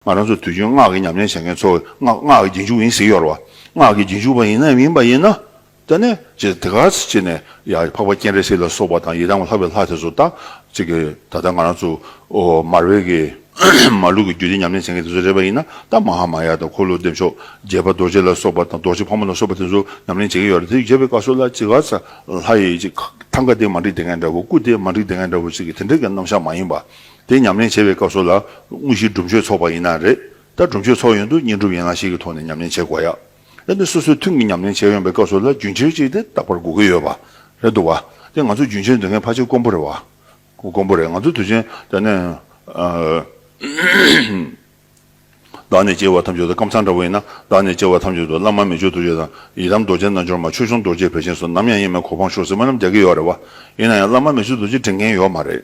ང་རང་ཚོ་དུས་རྒྱུན་སྔགས་ཀྱི་ཉམས་ལེན་བྱེད་མཁན་ཚོ་སྔགས་ཀྱི་རྒྱུན་འཇུག་ཡིན་ཟེར་གི་ཡོད་རེད་བ། སྔགས་ཀྱི་རྒྱུན་འཇུག་པ་ཡིན་ནམ་མིན་པ་ཡིན་ན། ད་ནས་ཅི་ད་ག་ཚོད་ཅིག་ནས་ཡང་འཕགས་པ་སྤྱན་རས་གཟིགས་ལ་སོགས་པ་དང་ཡི་དམ་ལྷ་བའི་ལྷ་དེ་ཚོ་ད་ཅིག་གི་ད་ལྟ་ང་རང་ཚོ་མར་བེ་གི་མ་ལུག་གི་རྒྱུད་སྡེ་ཉམས་ལེན་བྱེད་མཁན་དེ་ཚོ་རེད་པ་ཡིན་ན་ད་མ་ཧ་མ་ཡ་དང་འཁོར་ལོ་བདེ་མཆོག་རྒྱལ་བ་རྡོ་རྗེ་ལ་སོགས་པ་དང་རྡོ་རྗེ་ཕག་མོ་ལ་སོགས་པ་དེ་ཚོ་ཉམས་ལེན་བྱེད་ཀྱི་ཡོད་རེད་དེ་བྱེད་པའི་སྐབས་སུ་ལ་ཅི་ག་ཚོད་ལྷ་ཡི་ཐང་ག་དེ་མ་འགྲིག་དེ་ག་འདྲ་བོ་སྐུ་དེ་མ་འགྲིག་དེ་ག་འདྲ་བོ་ཅིག་གི་དེ་འདྲ་གི་རྣམ་བཞག་མ་ཡིན་པ། དེ་ཉམས་ལེན་བྱེད་པའི་སྐབས་སུ་ལ་དངོས་གཞིའི་སྒྲུབ་མཆོད་ཚོགས་པ་ཡིན་ན་རེད། ད་སྒྲུབ་མཆོད་ཚོགས་ཡོན་དུ་བསྙེན་སྒྲུབ་ཡན་ལག་ཤེས་ཀྱི་ཐོག་ནས་ཉམས་ལེན་བྱེད་དགོས་ཡ། ད་ནི་སོ་སོའི་ཐུན་གྱི་ཉམས་ལེན་བྱས་ཡོང་པའི་སྐབས་སུ་ལ་རྒྱུན་ཁྱེར་ཅིག་དེ་རྟག་པར་དགོས་ཀྱི་ཡོད་པ་རེད་འདུག་བ། དེ་ང་ཚོ་རྒྱུན་ཁྱེར་འདོད་མཁན་ཕ་ཆེ་དཀོན་པོ་རེད་བ། དཀོན་པོ་རེད་ང་ཚོ་དུས་ཆེན་དེ་ནས། བདག་ནས་སྐྱེ་བ་ཐམས་ཅད་དུ་ཀམ་ཚང་འདྲ་བོ་ཡིན་ན་བདག་ནས་སྐྱེ་བ་ཐམས་ཅད་དུ་བླ་མ་མི་ཆོས་རྡོ་རྗེ་དང་ཡི་རམ་རྡོ་རྗེ་རྣལ་འབྱོར་མ་ཆོས་སྐྱོང་རྡོ་རྗེ་བེ་ཆེན་སོགས་ནམ་ཡང་གཡེང་མེད་གོ་འཕང་ཤོག་ཟེར་མོ་རྣམས་རྒྱག་གི་ཡོད་རེད་བ། ཡིན་ན་ཡང་བླ་མ་མི་ཆོས་རྡོ་རྗེ་དྲན་མཁན་ཡོད་མ་རེད།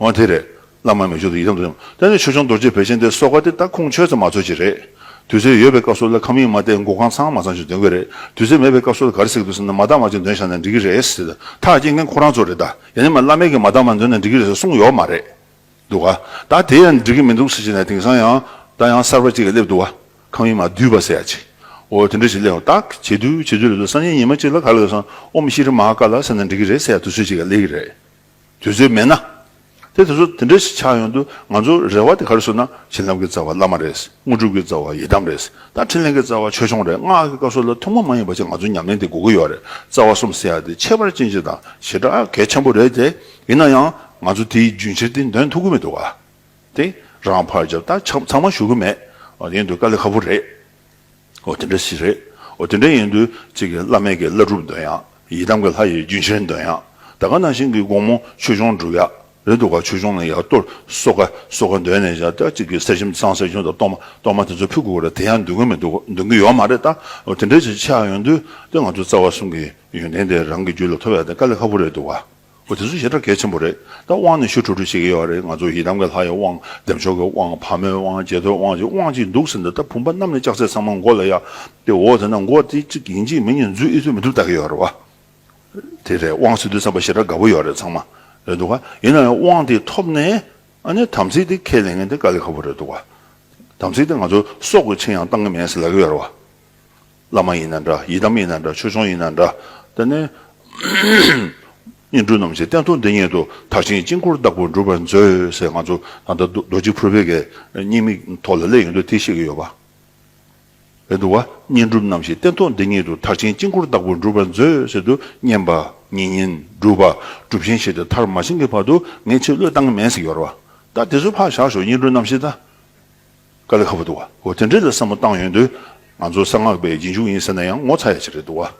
འོན་དེ་རེད། བླ་མ་མི་ཆོས་དང་ཡི་དམ་དུ་ཡང་བསྟན་ནས་ཆོས་སྐྱོང་རྡོ་རྗེ་བེ་ཅན་དེ་སོགས་ཀ་དེ་ལྟ་ཁུངས་ཆོས་ཙམ་མ་ཚོལ་ཅི་རེད། དུས་ཚོད་ཡོད་པའི་སྐབས་སུ་ལ་ཁམས་ཡིག་མ་བལྟས་མགོ་གང་ཚང་མ་ཚང་ཅིག་འདོན་གི་རེད་དུས་ཚོད་མེད་པའི་སྐབས་སུ་ག་རེ་ཟེར་གི་འདུག་ཟེར་ན་མ་དག་མ་ཅིག་འདོན་བཞག་ན་འགྲིག་གི་རེད་ཟེར་དེ་ཐག་བཅད་མཁན་ཁོ་རང་ཚོ་རེད་ད་ཡ་ནི་མ་བླ་མེད་ཀྱི་མ་དག་མ་འདོན་ན་འགྲིག་གི་རེད་ཟེར་གསུངས་ཡོད་མ་རེད་འདུག་ག་ད་དེ་ཡང་འགྲིག་གི་མི་འདུག་ཟེར་གྱི་ནས་དེང་སང་ཡང་ད་ཡང་གསར་པ་ཅིག་སླེབས་འདུག་ག་ཁམས་ཡིག་མ་བསྡུས་པ་ཟེར་ཡ་ཅིག་འོ་དེ་འདྲ་ཅིག་སླེབས་ཏག་བྱེད་དུས་བྱེད་དུས་ལ་དུས་སང་ཉིན་ཉི་མ་ཅིག་ལ་ག་ལ་འདུག་ཟེར་ན་ཨོམ་ཤི་རི་མ་ཀ་ལ་ཟེར་ན་འགྲིག་གི་རེད་ཟེར་ཡ་དུས་ཚོད་ཅིག་ག་སླེབས་གི་རེད། དུས་ཚོད་མེད་ན། དེ་དེ་ཚོ་དེ་འདྲ་ཞིག་ཆགས་ཡོང་དུས་ང་ཚོ་རེ་བ་དེ་ག་རེ་བཟོ་ན་བྱིན་རླབས་ཀྱི་རྩ་བ་བླ་མ་རེད། དངོས་གྲུབ་ཀྱི་རྩ་བ་ཡི་དམ་རེད། དང་འཕྲིན་ལས་ཀྱི་རྩ་བ་ཆོས་སྐྱོང་རེད་སྔགས་ཀྱི་བཀའ་སྲོལ་ལ་ཐུན་མོང་མ་ཡིན་པ་ཅིག་ང་ཚོ་ཉམས་ལེན་དེ་དགོས་ཀྱི་ཡོད་རེད་རྩ་བ་གསུམ་ཟེར་ཡག་དེ་ཁྱད་པར་ཅན་ཅིག་དང་ཞེ་དྲག་གལ་ཆེན་པོ་རེད་དེ་ཡིན་ན་ཡང་ང་ཚོ་དེའི་རྒྱུན་ཕྱིར་དེ་འདོན་ཐུབ་ཀྱི་མི་འདུག་ག་དེ་རང་ཕར་རྒྱབ་ད་ཚང་མ་ཞུ་གི་མེད་ཡིན་དུས་དཀའ་ལས་ཁ་པོ་རེད། ཨོ་དེ་འདྲ་ཞིག་རེད། ཨོ་དེ་འདྲ་ཡིན་དུས་གཅིག་གི་བླ་མེད་ཀྱི་བླ་སྒྲུབ་འདོན་ཡག། ཡི་དམ་གྱི་ལྷ་ཡི་རྒྱུན་ཆེན་འདོན་ཡག། ད་ག་ནང་བཞིན་གྱི་དགོང་མོ་ཆོས་འབྱུང་སྒྲུབ་ཡག་རེད་འདུག་ག་ཆོས་འབྱུང་ནང་ཡར་གཏོར་སོག་ཀ་སོག་ཀ་འདོན་ནས་ཞག་གཅིག་གི་ཟས་ཞིམ་གཙང་སྲས་ཆུང་དང་གཏོར་མ་གཏོར་མ་དེ་ཚོ་ཕུད་དགོས་རེད་དེ་ཡང་འདོན་གྱི་མི་འདུག་འདོན་གྱི་ཡོད་མ་རེད་ད་ཨོ་དེ་འདྲ་ཞིག་ཆགས་ཡོང་དུས་དེ་ང་ཚོའི་རྩ་བ་གསུམ་གྱི་ཡོན་ཏན་དེ་རང་གི་རྒྱུད་ལ་ཐོབ་ཡག་དེ་དཀའ་ལས་ཁ་པོ་རེད་འདུག་ག། འོ་དེ་ཚོ་ཞེ་དྲག་གལ་ཆེན་པོ་རེད་ད་དབང་ནས་ཞུ་ཁྲོ་ཁྲོ་བྱེད་ཀྱི་ཡོད་རེད་ང་ཚོ་ཡི་དམ་གྱི་ལྷ་ཡི་དབང་ལྡེམ་ཆོག་གི་དབང་ཕག་མོའི་དབང་རྗེ་ཐོའི་དབང་ཅིག་དབང་ཅིག་འདུག་ཟེར་འདུག་ད་བུམ་པ་གནམ་ནས་ལྕགས་ཚད་ཚང་མ་མགོ་ལ་ཡག་དེ་འོ་དེ་ན་མགོ་དེ་གཅིག་ཡིན་གཅིག་མིན་གྱི་མཛོད་ཨི་ཐོས་མི་ཐུབ་ལྟ་གི་ཡོད་རེད་བ། དེ་རེད་དབང་ཟེར་དུས་བསམ་པ་ཞེ་དྲག་དགའ་པོ་ཡོད་རེད་ཚང་མ་རེད་འདུག་བ། ཡིན་ན་ཡང་དབང་དེ་ཐོབ་ནས་ཨ་ནི་དམ་ཚིག་དེ་ཁས་ལེན་མཁན་དེ་དཀའ་ལས་ཁ་པོ་རེད་འདུག་བ། དམ་ཚིག་དེ་ང་ཚོ་སྲོག་གི་ཆེད་ཡང་བཏང་གི་མེད་ཟེར་ལབ་ཀྱི་ཡོད་རེད་བ། བླ་མ་ཡིན་ན་འདྲ་ཡི་དམ་ཡིན་ན་འདྲ་ཆོས་སྐྱོང་ཡིན་ན་འདྲ། དེ་ནས། བསྙེན་སྒྲུབ་རྣམས་ཀྱི་རྟེན་ཐུགས་འདི་ཉིད་དུ་དག་ཅིང་དཀྱིལ་འཁོར་བདག་པོར་འགྲུབ་པར་མཛོད་ཟེར་ང་ཚོ་ད་ལྟ་རྡོ་རྗེ་ཕུར་པའི་གའི་བསྙེན་དམིགས་ཐོག་ལ་སླེབས་ཡོང་དུས་དེ་ཤེས་ཀྱི་ཡོད་པ་རེད་འདུག་བ། བསྙེན་སྒྲུབ་རྣམས་ཀྱི་རྟེན་ཐུགས་འདི་ཉིད་དུ་དག་ཅིང་དཀྱིལ་འཁོར་བདག་པོར་འགྲུབ་པར་མཛོད་ཟེར་དུས་བསྙེན་པ། བསྙེན་བསྙེན་སྒྲུབ་པ། སྒྲུབ་ཆེན་བྱས་ཏེ་མཐར་མ་ཕྱིན་གྱི་བར་དུ་ངའི་ཕྱིར་བློས་བཏང་གི་མེད་ཟེར་གྱི་ཡོད་རེད་བ། ད་དེ་ཚོ་ཕར་བཞག་ཞོག་བསྙེན་སྒྲུབ་རྣམས་ཤེས་ད། ཀ་ལི་ཧ་བ་འདུག་གོ་དེ་འདྲའི་ལ་བསམ་བློ་བཏང་ཡོང་དུས་ང་ཚོ་གསང་སྔགས་པའི་རྗེས་འཇུག་ཡིན་ཟེར་ན་ཡང་ངོ་ཚ་ཡ་ཅིག་རེད་འདུག་ག་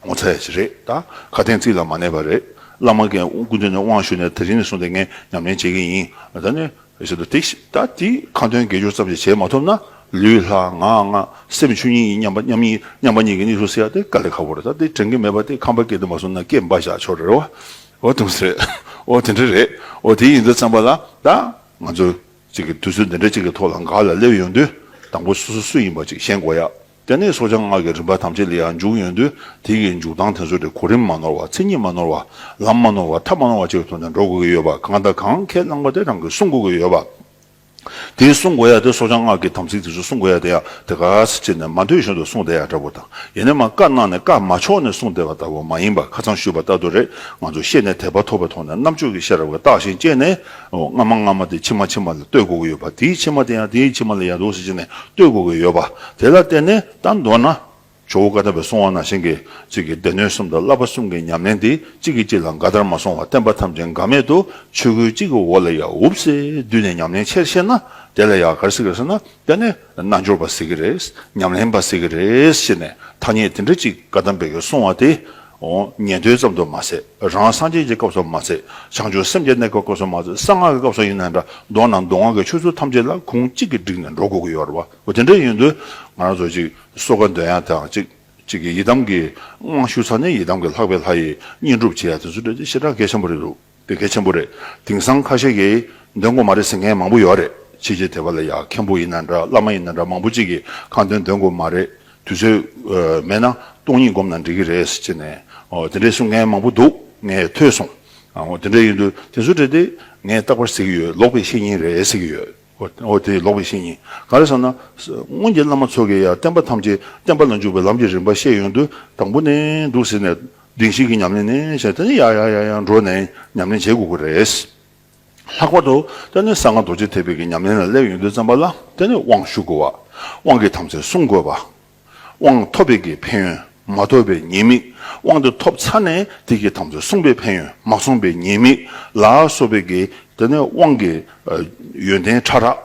ངོ་ཚ་ཡ་ཅིག་རེད་ད་ག་གཏན་ཚིགས་ལ་མ་གནས་པ་རེད་བླ་མ་གན་དགུ་འདོན་ནས་དབང་ཞུས་ནས་དེ་རིང་ནས་བཟུང་སྟེ་ངས་ཉམས་ལེན་བྱེད་ཀྱི་ཡིན་ད་ནི་ཟེར་དུ་ཏིག་ཤི་ད་དེ་ཁ་འདོན་དགེ་སྦྱོར་ཙམ་ཞིག་བྱེད་མ་ཐུབ་ན་ལུས་ལྷ་ང་ང་སེམས་ཆོས་ཉིད་ཡིན་སྙམ་པ་མཉམ་ཡིན་སྙམ་པ་གཉིས་ཀྱི་གནས་ཚུལ་སེལ་ཡ་དེ་ཀ་ལི་ཧ་བ་རེད་ད་དེ་དྲན་གྱི་མེད་པ་དེ་ཁམས་པ་སྐད་དུ་མ་གསུངས་ན་སྐད་འབའ་བཞག་ཆོག་རེད་བ་འོ་དུང་ཟེར་འོ་དེ་འདྲ་རེད་འོ་དེ་ཡིན་དུས་བརྩམས་པ་ལ་ད་ང་ཚོ། གཅིག་གིས་དུས་ཚོད་འདི་འདྲ་གཅིག་གི་ཐོག་ལ་འགག་ལ་སླེབས་ཡོང་དུས་དང་པོ་སོ་སོ་སུ་ཡིན་པ་གཅིག་ཤེས་དགོས་ཡ། དེ་ནས་སོ་བྱང་སྔགས་ཀྱི་རིམ་པ་ཐམས་ཅད་ལ་ཡང་འཇུག་ཡོང་དུས་དེ་གི་འཇུག་སྟངས་དེ་ཚོ་དེ་གོ་རིམ་མ་ནོར་བ་ཚིག་ཉིད་མ་ནོར་བ་ལམ་མ་ནོར་བ་ཐབས་མ་ནོར་བ་བཅས་ཀྱི་ཐོག་ནས་འགྲོ་དགོས་ཀྱི་ཡོད་པ་གང་དང་གང་ཁས་བླངས་པ་དེ་རང་གིས་སྲུང་དགོས་ཀྱི་ཡོད་པ། དེ་སྲུང་དགོས་ཡ་དེ་སོ་བྱང་སྔགས་ཀྱི་དམ་ཚིག་དེ་ཚོ་སྲུང་དགོས་ཡ་དེ་ཡང་དེ་ག་ཚེ་ཅི་ནས་མ་འཐུས་གཞན་དུ་སྲུང་བསྡད་ཡ་འདྲ་པོ་དང་ཡེ་ནས་མ་བཀའ་གནང་ནས་བཀའ་མ་ཆོག་ནས་སྲུང་བསྡད་པ་ལྟ་བུ་མ་ཡིན་པ་ཁ་ཚང་ཞུས་པ་ལྟ་དུ་རེད་ང་ཚོ་ཤེས་ནས་དད་པ་ཐོབ་པའི་ཐོག་ནས་རྣམ་དཔྱོད་ཀྱི་ཤེས་རབ་ཀྱི་རྟགས་ཤིང་སྤྱད་ནས། སྔ་མ་སྔ་མ་དེ་ཕྱི་མ་ཕྱི་མ་ལ་ལྟོས་དགོས་ཀྱི་ཡོད་པ་དེའི་ཕྱི་མ་དེ་ཡང་དེའི་ཕྱི་མ་ལ་ཡར་ལྡོག་ཤིག་བྱས་ནས་ལྟོས་དགོས་ཀྱི་ཡོད་པ་དེ་ལ་བརྟེན་ནས་ད་མདོར་ན། ཇོ་བོ་བཀའ་ཐར་པའི་གསུང་བ་ནང་བཞིན་གྱི་ཚིག་གི་སྡེ་སྣོད་གསུམ་དང་བསླབ་པ་གསུམ་གྱི་ཉམས་ལེན་དེ་གཅིག་གིས་གཅིག་ལ་འགའ་དར་མ་སོང་བར་བསྟན་པ་ཐམས་ཅད་འགའ་མེད་དུ་ཆོས་སྐུའི་གཅིག་གི་འོག་ལ་ཡང་འུབ་སེ་བསྡུས་ནས་ཉམས་ལེན་ཆེར་བཤད་ན་དེ་ལ་ཡང་གར་སིག་གར་སིག་ན་དེ་ནི་རྣལ་འབྱོར་པ་ཟེར་གྱི་རེད་ཉམས་ལེན་པ་ཟེར་གྱི་རེད་ཞེས་ནས་ཐ་སྙད་དེ་འདྲ་གཅིག་བཀའ་གདམས་པའི་ཡོད་གསུང་བ་དེ་ཉན་ཐོས་ཙམ་དུ་མ་ཟད་རང་སངས་རྒྱས་ཀྱི་སྐབས་སུ་མ་ཟད་བྱང་ཆུབ་སེམས་ཀྱི་གནས་སྐབས་སྐབས་སུ་མ་ཟད་གསང་སྔགས་ཀྱི་སྐབས་སུ་ཡིན་ན་འདྲ་མདོར་ན་མདོ་སྔགས་ཀྱི་ཆོས་ཚུལ་ཐམས་ཅད་ལ་ཁུངས་གཅིག་གིས་བསྒྲིགས་ནས་འགྲོ་དགོས་ཀྱི་ཡོད་རེད་བ་དེ་འདྲ་ཡིན་དུས་ང་རང་ཚོ་ཅིག་གསོ་དགའ་འདོད་ཡ་དང་ཅིག་ཅིག་གིས་ཡི་དམ་གྱི་དབང་ཞུ་ཚར་ནས་ཡི་དམ་གྱི་ལྷག་པའི་ལྷ་ཡི་བསྙེན་སྒྲུབ་བྱེད་ཡ་དེ་ཚོ་འདྲ་ཞེ་དྲག་གལ་ཆེན་པོ་རེད་འདུག། དེ་གལ་ཆེན་པོ་རེད་དེང་སང་ཁ་ཤས་ཀྱིས་འདོན་དགོས་མ་རེད་ཟེར་མཁན་མང་པོ་ཡོད་རེད་ཕྱི་རྒྱལ་དེ་བ་ལ་ཡ་མཁན་པོ་ཡིན་ན་འདྲ་བླ་མ་ཡིན་ན་འདྲ་མང་པོ་ཅིག་གིས་ཁ་འདོན་འདོན་དགོས་མ་རེད་དུས་ཚོད་མེད་ན་སྟོང་ཉིད་སྒོམ་ན་འགྲིག་གི་རེད་ཅེས་ནས་དེ་འདྲའི་གསུང་མཁན་མང་པོ་འདུག་ངས་ཐོས་སོང་དེ་འདྲ་ཡིན་དུས་དེ་ཚོ་འདྲ་སྟེ་ངས་རྟག་པར་ཟེར་གྱི་ཡོད་ལོག་པའི་བཤེས་གཉེན་རེད་ཟེར་གྱི་ཡོད། འོ་དེ་ལོག་པའི་ཤེས་ཉིད་ག་རེ་བསམ་ན། སྔོན་གྱི་བླ་མ་ཚོ་གིས་ཡང་བསྟན་པ་ཐམས་ཅད་བསྟན་པ་ལ་འཇུག་པའི་ལམ་གྱི་རིམ་པ་བཤད་ཡོང་དུས་དང་པོ་ནས་འདུག་ཟེར་ནས་གདིང་ཞིག་གིས་ཉམས་ལེན་ནས་བྱས་དེ་ནས་ཡར་ཡར་ཡར་ཡར་འགྲོ་ནས་ཉམས་ལེན་བྱེད་དགོས་ཀྱི་རེད། ལྷག་པར་དུ་བསྟན་ནས་གསང་སྔགས་རྡོ་རྗེ་ཐེག་པའི་ཉམས་ལེན་ལ་སླེབས་ཡོང་དུས་བརྩམས་པ་ལ་བརྟེན་ནས་དབང་ཞུ་དགོས་པ། དབང་གིས་ཐམས་ཅད་བསྲུང་དགོས་པ། དབང་ཐོབ་པའི་གི་ཕན་ཡོན་མ་ཐོབ་པའི་ཉེས་དམིགས་དབང་དེ་ཐོབ་ཚར་ནས་དེ་གི་དམ་ཚིག་བསྲུངས་པའི་ཕན་ཡོན་མ་བསྲུངས་པའི་ཉེས་དམིགས་ལ་སོགས་པའི་གི་དེ་ནི་དབང་གི་ཡོན་ཏན་ཕྲ་རགས་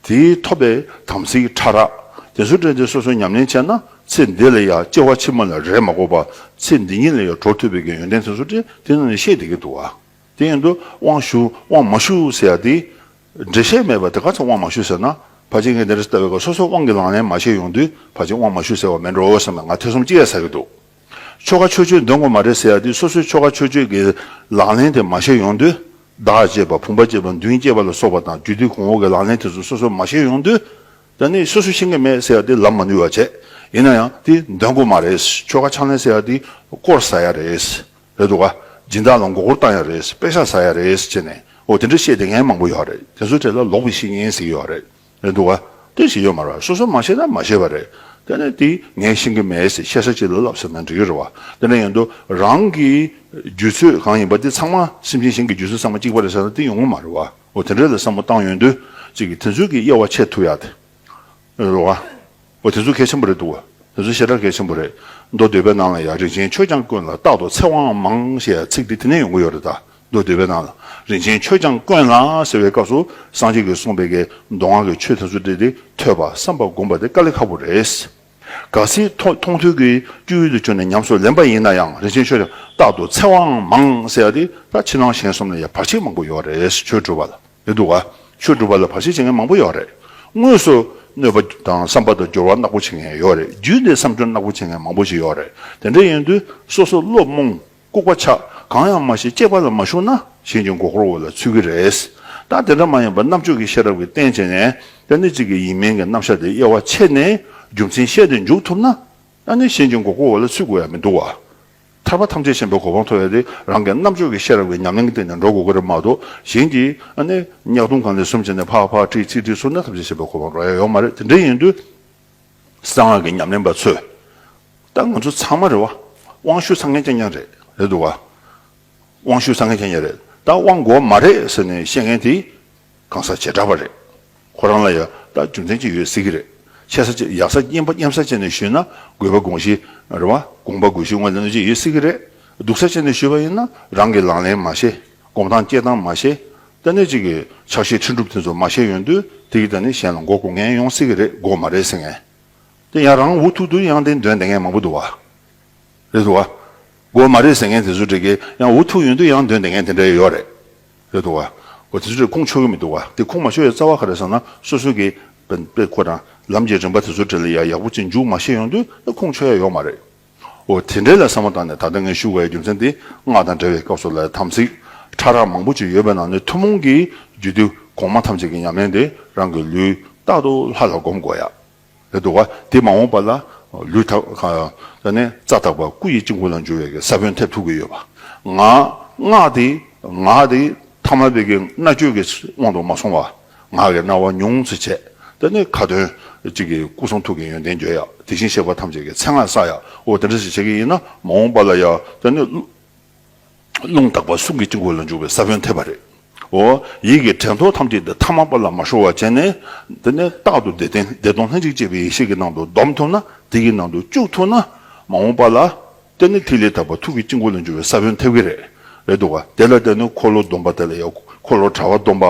དེ་ཐོབ་པའི་དམ་ཚིག་ཕྲ་རགས་དེ་ཚུལ་དྲན་ཏེ་སོ་སོ་ཉམས་ལེན་བྱས་ན་ཚེ་འདི་ལ་ཡང་སྐྱེ་བ་ཕྱི་མ་ལ་རེ་མ་གོ་བར་ཚེ་འདི་ཉིད་ལ་ཡང་གྲོགས་ཐུབ་པའི་གི་ཡོན་ཏན་དེ་ཚུལ་དྲན་དེ་ནི་ནི་ཤེས་དེ་གི་འདུག་བ་དེ་ཡང་དུ་དབང་ཞུ་དབང་མ་ཞུ་ཟེར་ཡ་དེ་འགྲེལ་བཤད་མེད་པར་དེ་ག་ཚོད་དབང་མ་ཞུ་ཟེར་ན། ཕ་ཆེ་ངས་འདི་རེ་ཟེར་ལྟ་བའི་སྐབས་སོ་སོའི་དབང་གི་ལག་ལེན་མ་བྱས་ཡོང་དུས་ཕ་ཆེ་དབང་མ་ཞུ་ཟེར་བ་མིན་འགྲོ་བསམ་ནས་ང་ཐེ་ཚོམ་ཅི་ཡ་ཟ་གི་འདུག་ཆོལ་ཁ་ཆོས་ཆོས་འདོན་དགོས་མ་རེད་ཟེར་ཡ་དུས་སོ་སོའི་ཆོལ་ཁ་ཆོས་ཆོས་ཀྱི་ལག་ལེན་དེ་མ་བྱས་ཡོང་དུས་བདག་ཅེས་པ་བུམ་པ་ཅེས་པ་མདུན་ཅེས་པ་ལ་སོགས་པ་དང་རྒྱུད་དུས་གོང་འོག་གི་ལག་ལེན་དེ་ཚོ་སོ་སོ་མ་བྱས་ཡོང་དུས་ད་ནི་སོ་སོས་ཤེས་ཀྱི་མེད་ཟེར་ཡ་དུས་ལབ་མ་ནུས་བ་བྱེད་ཡིན་ན་ཡང་དེ་འདོན་དགོས་མ་རེད་ཆོལ་ཁ་ཕྱག་ལེན་ཟེར་ཡ་དེ་སྐོར་ཟ་ཡ་རེད། རེད་འདུག་ག། སྦྱིན་བདག་ལ་མགོ་སྐོར་བཏང་ཡ་རེད། དཔེ་ཆ་ཟ་ཡ་རེད་ཅེས་ནས། འོ་དེ་འདྲ་བཤད་དེ་ངས་མང་པོ་ཡོད་རེད། དེ་ཚོའི་གྲས་ལ་ལོག་པའི་བཤེས་གཉེན་ཟིག་ཡོད་རེད། རེད་འདུག་ག། དེ་ཞིག་ཡོད་མ་རེད། སོ་སོ་མ་ཤེས་ན་མ་ཤེས་པ་རེད། དེ་ནས་དེ་ངས་ཤེས་ཀྱི་མེད་ཟེར་ཤེས་ས་ཅི་ལ་ལབ་ཟེར་ན་འགྲིག་གི་རེད་བ། དེ་འདྲ་ཡིན་དུས་རང་གི་རྒྱུད་ཚོད་གང་ཡིན་པ་དེ་ཚང་མ་སེམས་ཅན་གཞན་གྱི་རྒྱུད་ཚོད་ཚང་མ་གཅིག་པ་རེད་ཟེར་ན་དེ་ཡོང་གི་མ་རེད་བ། འོ་དེ་འདྲ་ལ་བསམ་བློ་བཏང་ཡོད་དུས་ཅིག་གིས་དེ་ཚོའི་གི་དབྱེ་བ་ཕྱེ་ཐུབ་ཡ་དེ། རེད་འདུག་ག། འོ་དེ་ཚོ་གལ་ཆེན་པོ་རེད་འདུག་དེ་ཚོ་ཞེ་དྲག་གལ་ཆེན་པོ་རེད། མདོ་སྡེ་པའི་ནང་ལ་ཡང་རིན་ཆེན་ཆོས་སྐྱང་དཀོན་ལ་རྟག་ཏུ་ཚེ་དབང་མང་ཞེས་ཚིག་འདི་དེ་ནས་ཡོང་གི་ཡོད་རེད་ད། མདོ་སྡེ་པའི་ནང་ལ་རིན་ཆེན་ཆོས་སྐྱང་དཀོན་ལ་ཟེར་བའི་སྐབས་སུ་སངས་རྒྱས་ཀྱིས་གསུངས་པའི་ཀའི་མདོ་སྔགས་ཀྱི་ཆོས་དེ་ཚོ་བྲིས་ཏེ་ཐོས་པ་བསམ་པ་བསྒོམ་པ་དེ་དཀའ་ལས་ཁག་པོ་རེད། ག་སྲིད་མཐོང་ཐོས་ཀྱི་སྤྱོད་ཡུལ་དུ་གྱུར་ནས་ཉམས་སུ་ལེན་པ་ཡིན་ན་ཡང་རིན་ཆེན་ཆོས་སྐྱང་རྟག་ཏུ་ཚེ་དབང་མང་ཟེར་ཡ་དེ་ད་ཕྱི་ནང་གཞན་གསུམ་ལ་ཡང་བར་ཆད་མང་པོ་ཡོད་རེད་ཆོས་བགྲོད་པ་ལ། ཡོད་འདུག་ག་ཆོས་སྒྲུབ་པ་ལ་བར་ཆད་བྱེད་མཁན་མང་པོ་ཡོད་རེད། དངོས་སུ་གནོད་པ་དང་བསམ་པ་དང་སྦྱོར་བ་རྣག་པོ་བྱེད་མཁན་ཡོད་རེད་རྒྱུད་འདི་བསམ་སྦྱོར་རྣག་པོ་བྱེད་མཁན་མང་པོ་ཞིག་ཡོད་རེད་དེ་འདྲ་ཡིན་དུས་སོ་སོ་བློ་རྨོངས་ལྐུགས་པ་ཆགས་གང་ཡང་མ་ཤེས་གཅེས་པ་ལ་མ་ཞུགས་ན་གཞན་གྱི་མགོ་སྐོར་འོག་ལ་ཚུད་ཀྱི་རེད་ད་དེ་འདྲ་མ་ཡིན་པར་རྣམ་དཔྱོད་ཀྱི་ཤེས་རབ་ཀྱི་སྟེང་བྱས་ནས་ད་ནི་གཅིག་གི་ཡིན་མིན་གྱི་རྣམ་གཞག་དེ་དབྱེ་བ་ཕྱེ་ནས་རྒྱུ་མཚན་བཤད་དེ་འཇུག་ཐུབ་ན་ད་ནི་གཞན་གྱི་མགོ་སྐོར་འོག་ལ་ཚུད་དགོས་ཡ་མི་འདུག་ག། ཐར་པ་ཐམས་ཅད་ཤེས་པའི་གོ་འཕང་ཐོབ་ཡོད་དེ། རང་གི་རྣམ་དཔྱོད་ཀྱི་ཤེས་རབ་ཀྱི་ཉམས་ལེན་གྱི་སྟེང་ནས་འགྲོ་དགོས་ཀྱི་རེད་མ་གཏོགས་གཞན་གྱིས། ནི། ཉག་སྟོང་གང་ལས་གསུམ་བྱས་ནས་ཕག་ཕག་ཁྲིག་ཁྲིག་ཁྲིག་ཟུར་ན་ཐམས་ཅད་ཤེས་པའི་གོ་འཕང་འགྲོ་ཡ་ཡོད་མ་རེད་དེ་འདྲ་ཡིན་དུས། གསང་སྔགས་ཀྱི་ཉམས་ལེན་པ་ཚོས། ད་ང་ཚོ་ཚང་མ་རེད་བ། དབང་ཤུགས་ཚང་མཁན་ཀྱང་ཀྱང་རེད་རེད་འདུག་བ། དབང་ཤུགས་ཚང་མཁན་ཀྱང་ཀྱང་རེད་ད་དབང་དགོས་མ་རེད་ཟེར་ནས་བཤད་མཁན་དེ། གང་ཟག་བྱེ་བྲག་པ་རེད། ཁོ་རང་ལ་ཡང་ད་རྒྱུ་མཚན་གཅིག་ཡོད་སྲིད་ཀྱི་རེད། ཆེ་ས་ཆེ་ཡག་ས་སྙན་པ་སྙན་པ་ས་བྱས་ནས་ཞུས་ན་དགོས་པ་དགོངས་གཞི་རེད་བ། དགོངས་པ་དགོས་གཞི་དངོས་ལ་གནོད་བྱེད་ཡོད་སྲིད་ཀྱི་རེད། སྡུག་ས་བྱས་ནས་ཞུས་པ་ཡིན་ན་རང་གིས་ལག་ལེན་མ་ཤེས། གོམས་སྟངས་སྐྱེལ་སྟངས་མ་ཤེས། ལྟ་ནུས་གཅིག་གི་ཆགས་ཤེས་ཁྲིད་འགྲུབ་དེ་ཚོ་མ་ཤེས་ཡོང་དུས་དེ་གི་ད་ནི་གཞན་ལ་མགོ་སྒུར་མཁན་ཡོང་སྲིད་ཀྱི་རེད་མགོ་མ་རེད་ཟེར་མཁན། དེ་ཡང་རང་འུ་ཐུག་ཏུ་ཡང་དེ་འདོན་བསྡད་མཁན་མང་པོ་འདུག་བ། རེད་འདུག་བ། མགོ་མ་རེད་ཟེར་མཁན་དེ་ཚོ་དྲེགས་ཀྱི་ཡང་འུ་ཐུག་ཡོང་དུས་ཡང་འདོན་བསྡད་མཁན་དེ་འདྲ་ཡོད་རེད། རེད་འདུག་གོ། དེ་ཚོས་ཁུངས་ཆོད་ཀྱི་མི་འདུག་གོ། དེ་ཁུངས་མ་ཆོད་ཡ་རྩ་བ་ག་རེད་བསམ་ན་སོ་སོ་གི་དཔེ་ཁོ་དང་ལམ་གྱི་རིམ་པ་དེ་ཚོ་འབྲེལ་ལ་ཡ་ཡག་པོ་ཅི་མཇུག་མ་ཤེས་ཡོང་དུས་ད་ཁུངས་ཆོད་ཡ་ཡོག་མ་རེད། འོ་དེ་འདྲའི་ལ་བསམ་བློ་བཏང་ནས་ད་ལྟ་ངས་ཞུ་དགོས་ཡ་རྒྱུ་མཚན་དེ་སྔགས་དང་འབྲེལ་བའི་སྐབས་སུ་ལ་ཡ་དམ་ཚིག་ཕྲ་རགས་མང་པོ་ཅིག་ཡོད་པའི་ནང་ནས་ཐུན་མོང་གི་རྒྱུད་སྡེ་གོང་མ་ཐམས་ཅད་ཀྱི་ཉམས་ལེན་དེ་རང་གི་ལུས་རྟག་ཏུ་ལྷ་ལ་སྒོམ་དགོས་ཡ། ལས་འདུ་བ། དེས་མ་འོངས་པ་ལ་ལུས་དག་པ། ལ་ནི་རྩ་དག་པ་སྐུ་ཡི་དཀྱིལ་འཁོར་ལ་འཇུ་བའི་གེ་སར་བོན་ཐེབས་ཐུག་གི་ཡོད་པ། ང། སྔགས་དེ། ངག་དེ། ཐ་མལ་པའི་གེ་རྣ་གཅོད་ཀྱི་དབང་དུ་མ་སོང་བ། ངག་གི་རྣ་བ་ཉུང་ཚེ་ཆད། ལ་ནི་ཁ་དོན། གཅིག་གིས་སྐུ་གསུང་ཐུགས་ཀྱི་ཡོན་ཏན་བརྗོད་ཡ། དེ་བཞིན་གཤེགས་པ་ཐམས་ཅད་ཀྱི་མཚན་སྔགས་བསགས་ཡ། འོ་དེ་འདྲ་ཞིག་བྱེད་ཀྱི་ཡིན་ན་མ་འོངས་པ་ལ་ཡ། ལ་ནི། རླུང་དག་པ་གསུང་གི་དཀྱིལ་འཁོར་ལ་འཇུག་པའི་ས་བོན་ཐེབས་པ་རེད། འོ། ཡིད་ཀྱི་དྲན་ཐོ་ཐམས་ཅད་འདི་ཐ་མ་པ་ལ་མ་ཤོར་བ་བྱས་ནས། འདི་ནས་རྟག་ཏུ་བདེ་སྟོང་ལྷན་ཅིག་སྐྱེས་པའི་ཡེ་ཤེས་ཀྱི་ནང་དུ་བསྡོམས་ཐུབ་ན་དེ་ཡི་ནང་དུ་བཅུག་ཐུབ་ན། མ་འོངས་པ་ལ། དེ་ནི་ཐིག་ལེ་དག་པ་ཐུགས་ཀྱི་དཀྱིལ་འཁོར་ལ་འཇུག་པའི་ས་བོན་ཐེབས་ཀྱི་རེད། རེད་འདུག་ག་དེ་ལ་བརྟེན་ནས་འཁོར་ལོ་སྡོམ་པ་དེ་ལ་ཡང་འཁོར་ལོ་དྲ་བ་སྡོམ་པ།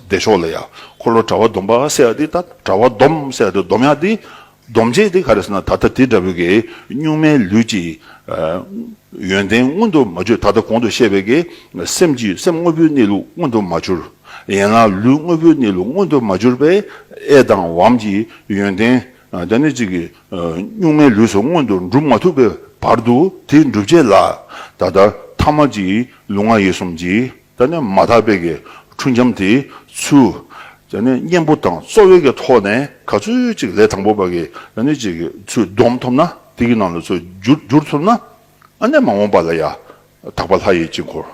བདེ་མཆོག་ལ་ཡང་འཁོར་ལོ་དྲ་བ་སྡོམ་པ་ཟེར་ཡ་དེ་ད་དྲ་བ་སྡོམ་ཟེར་ཡ་དེ་སྡོམ་ཡ་དེ། སྡོམ་བྱེད་དེ་ག་རེ་ཟེར་ན་ད་ལྟ་དེ་འདྲ་བོའི་གེགས་གཉུག་མའི་ལུས་ཀྱི་ཡོན་ཏན་མངོན་དུ་མ་གྱུར་ད་ལྟ་གོང་དུ་བཤད་པའི་གེགས་སེམས་ཀྱི་སེམས་དངོས་པོའི་གནས་ལུགས་མངོན་དུ་མ་གྱུར། ཡན་ལག་ལུས་དངོས་པོའི་གནས་ལུགས་མངོན་དུ་མ་གྱུར་པས་ཨེ་དང་བའམ་གྱི་ཡོན་ཏན་དེ་ནི་གཅིག་གཉུག་མའི་ལུས་སུ་མངོན་དུ་འགྲུབ་མ་ཐུབ་པའི་བར་དུ་དེའི་འགྲུབ་བྱེད་ལ་ད་ལྟ་ཐ་མ་གཅིག་ལུས་ངག་ཡིད་གསུམ་གྱི་ད་ནི་མ་དག་པའི་གི་འཁྲུལ་འཁྱམས་དེའི་ཚུལ། ད་ནི་གཉེན་པོ་དང་རྩོལ་བའི་གི་ཐོག་ནས་ག་ཚུལ་ཅིག་ལས་དང་པོ་པ་གི་ད་ནི་ཅིག་གི་ཚུལ་སྡོམ་ཐོབ་ན་དེ་གི་ནང་ལ་ཚུལ་བསྒྱུར་ཐུབ་ན་ཨ་ནས་མ་འོངས་པ་ལ་ཡང་དག་པ་ལྷ་ཡི་དཀྱིལ་འཁོར་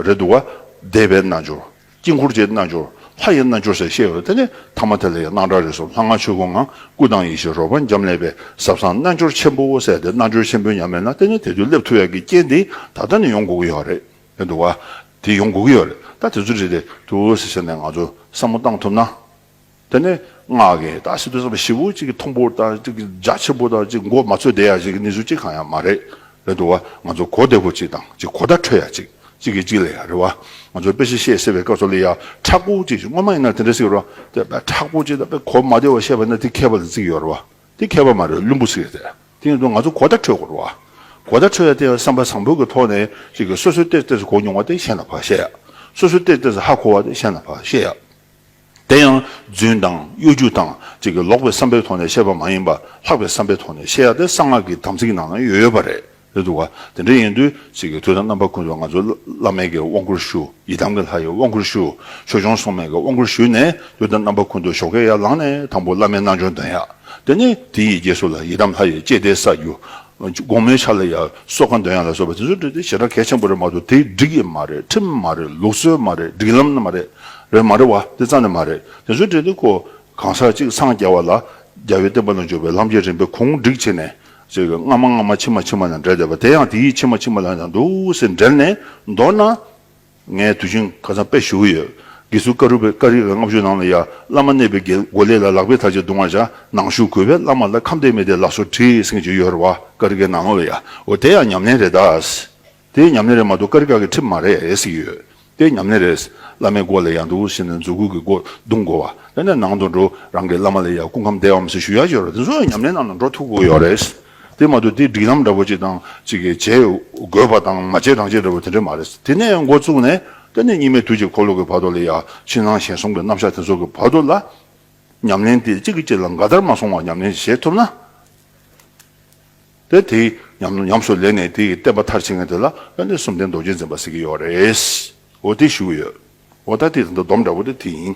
རེད་འདུག་ག་བཟླས་པའི་རྣལ་འབྱོར་དཀྱིལ་འཁོར་གྱི་རྣལ་འབྱོར་ལྷ་ཡི་རྣལ་འབྱོར་ཟེར་བཤད་ཡོད་ད་ནི་ཐ་མ་དེ་ལ་ཡང་སྣང་གྲགས་རིག་གསུམ་ལྷ་སྔགས་ཆོས་སྐུ་ངང་སྐུ་དང་ཡེ་ཤེས་རོལ་པ་འབྱམས་ཀླས་པའི་ཟབ་གསང་རྣལ་འབྱོར་ཆེན་པོ་ཟེར་ཏེ་རྣལ་འབྱོར་ཆེན་པོའི་ཉམས་མེད་ན་དེ་ནི་དེ་དུས་སླེབས་ཐུབ་ཡག་གི་རྐྱེན་དེ་ད་ལྟ་ནས་ཡོང་དགོས་ཀྱི་ཡོད་རེད། ཡོད་འདུག་བ། དེ་ཡོང་དགོས་ཀྱི་ཡོད་རེད་ད་དེ་ཚོ་རེད་རེད་འདུག་ཟེར་བཤད་ནས་ང་ཚོ་བསམ་བློ་བཏང་ཐུབ་ན། དེ་ནས་སྔགས་ཀྱི་ད་སི་ཏུ་བསམ་པ་བཞི་བོ་གཅིག་གི་མཐོང་པོར་ད་གཅིག་གི་རྒྱ་ཆེན་པོ་ད་གཅིག་མགོ་མ་ཚོས་བསྡད་ཡ་གཅིག་གི་ནི་ཟུ་གཅིག་གང་ཡང་མ་རེད་རེད་འདུག་བ་ང་ཚོ་གོ་བདེ་བོ་གཅིག་དང་གཅིག་གོ་བརྡ་འཕྲོད་ཡ་གཅིག་གཅིག་གིས་གཅིག་ལས་ཡ་རེད་བ་ང་ཚོ་དཔེ་ཤེས་ཤེས་ཟེར་བའི་སྐབས་སུ་ལི་ཡ་ཁྲག་པོ་གཅིག་སྔོན་མ་ཡིན་ན་དེ་འདྲ་ཟིག་རོ་དེ་དཔེ་ཁྲག་པོ་གཅིག་ད་དཔེ་གོ་མ་བདེ་བ་བཤད་པ་ན་དེ་མཁས་པ་ལ་བརྩིས་ཀྱི་ཡོད་རེད་བ། འདི་མཁས་པ་མ་རེད་བླུན་པོ་ཞིག་རེད། དེ་ཡིན་དུས་ང་ཚོ་གོ་བརྡ་འཕྲོད་དགོས་རུང། གོ་བརྡ་འཕྲོད་ཡ་དེ་ཡང་བསམ་པ་བཟང་པོའི་གི་ཐོག་ནས་ཅིག་གིས་སོ་སོའི་གཏེར་གཏེར་སུ་གོ་མྱོང་བ་དེ་གཞན་ལ་ཕར་བཤད་ཡ། སོ་སོའི་གཏེར་གཏེར་སུ་ཧ་གོ་བ་དེ་གཞན་ལ་ཕར་བཤད་ཡ། དེ་ཡང་རྫུན་དང་གཡོ་སྒྱུ་དང་ཅིག་གིས་ལོག་པའི་བསམ་པའི་ཐོག་ནས་བཤད་པ་མ་ཡིན་པར་ལྷག་པའི་བསམ་པའི་ཐོག་ནས་བཤད་ཡ་དེ་གསང་སྔགས་ཀྱི་དམ་ཚིག་ནང་ན་ཡོད་ཡོད་པ་རེད། ལྷའི་བུ། དེ་འདྲ་ཡིན་དུས་ཚིག་གི་མཐུ་དང་རྣམ་པར་ཀུན་ཏུ་ང་ཚོ་བླ་མེད་ཀྱི་དབང་བསྐུར་ཞུ། ཡི་དམ་གྱི་ལྷ་ཡི་དབང་བསྐུར་ཞུ། ཆོས་སྐྱོང་སྲུང་མས་ཀྱི་དབང་བསྐུར་ཞུས་ནས་ལུས་དང་རྣམ་པ་ཀུན་ཏུ་ཞོག་ཁའི་ཡར་ལངས་ནས་དང་པོ་བླ་མའི་རྣལ་འབྱོར་འདོན་ཡ། དེ་ནས་དེ་ཡི་རྗེས་སུ་ལ་ཡི་དམ་ལྷ་ཡི་བསྐྱེད་བཟླས་ས་རྒྱུ། དགོང་མོའི་ཆ་ལ་ཡང་སྲོག་ཁ་འདོན་ཡ་ལ་སོགས་པ་དེ་ཚོ་འདྲི་དེ་བྱེ་བྲག་གལ་ཆེན་པོ་རེད་མ་གཏོགས་དེ་འགྲིག་གི་མ་རེད་ཁྲིམས་མ་རེད་ལུགས་སྲོལ་མ་རེད་སྒྲིག་ལམ་མ་རེད་རེད་མ་རེད་བ་དེ་ཙམ་ནས་མ་རེད་དེ་ཚོ་འདྲི་དེ་ཁོ་གང་ཟག་གཅིག་འཚང་རྒྱ་བ་ལ་རྒྱ་བའི་བསྟན་པ་ལ་འཇུག་པའི་ལམ་གྱི་རིམ་པའི་གུང་སྒྲིག་བྱེད་ནས་ཟེར་བའི་སྔ་མ་སྔ་མ་ཕྱི་མ་ཕྱི་མ་དང་འབྲེལ་བསྡད་པ་དེ་ཡང་དེ་ཡིས་ཕྱི་མ་ཕྱི་མ་ལ་ཡང་འདུག་ཟེར་འབྲེལ་ནས་མདོར་ན། ངས་དུས་ཆེན་ཁ་སང་དཔེ་ཞུ་གི་ཡོད། དགེ་ཚུལ་ཀ་རུ་པའི་ཀ་རིག་ལ་ལྔ་བཅུ་ནང་ལ་ཡ་བླ་མ་གནས་པའི་རྒྱན་མགོ་ལས་ལ་ལག་པས་ཐག་ཅིག་བརྡུང་བར་བྱ་ནང་ཞུགས་གུས་པས་བླ་མ་ལ་ཁམས་བདེ་མི་བདེ་ལགས་སོ་དྲིས་ཟིན་གྱི་ཡོད་རེད་བ་ཀ་རིག་གའི་ནང་ལ་ཡ་འོ་དེ་ཡང་ཉམས་ལེན་རེད་དཱ། དེ་ཉམས་ལེན་རེད་མ་གཏོགས་དཀའ་རི་དཀའ་གི་ཁྲིམས་མ་རེད་ཟེར་གྱི་ཡོད། དེ་ཉམས་ལེན་རེད། བླ་མའི་སྒོ་ལས་ཡར་འགྲོ་ཞེས་ནས་འཛུགས་སྐུལ་གྱི་སྒོ་རྡུང་དགོས་བ། དེ་ནས་ནང་དུ་འགྲོ། རང་གི་བླ་མ་ལས་ཡར་སྐུ་ཁམས་བདེའམ་ཞེས་ཞུ་ཡག་བྱེད་རོགས་དེ་ཚོ་ཡང་ཉམས་ལེན་ནང་དུ་འགྲོ་ཐུབ་དགོས་ཡོད་རེད། དེ་མ་གཏོགས་དེ་སྒྲིག་ལམ་འདྲ་པོ་གཅིག་དང་གཅིག་གིས་བྱེད་དགོས་པ་དང་མ་བྱེད་རང་བྱེད་འདྲ་པོ་དེ་འདྲ་མ་རེད། དེ་ནས་འགོ་བཙུགས་ནས་དེ་ནས་གཉིས་མེད་དུས་ཀྱི་འཁོར་ལོ་གྱི་བར་དོ་ལས་ཡར་ཕྱིན་ནང་ཞེན་གསུམ་གྱི་རྣམ་གཞག་དེ་ཚོ་གི་བར་དོ་ལ། ཉམས་ལེན་དེ་གཅིག་གིས་གཅིག་ལ་འགའ་ལྟར་མ་སོང་བར་ཉམས་ལེན་བྱེད་ཐུབ་ན། དེ་དེ་ཉམས་སུ་ལེན་ནས་དེ་ཡི་བསྟན་པ་མཐར་ཕྱིན་མཁན་དེ་ལ་ཡང་དེ་གསུམ་ལྡན་རྡོ་རྗེ་འཛིན་པ་ཟེར་གྱི་ཡོད་རེད། འོ་དེ་ཞུ་གི་ཡོད། འོ་ད་དེ་དེ་འདྲ་སྡོམ་འདྲ་བོ་དེ་དེ་ཡིན།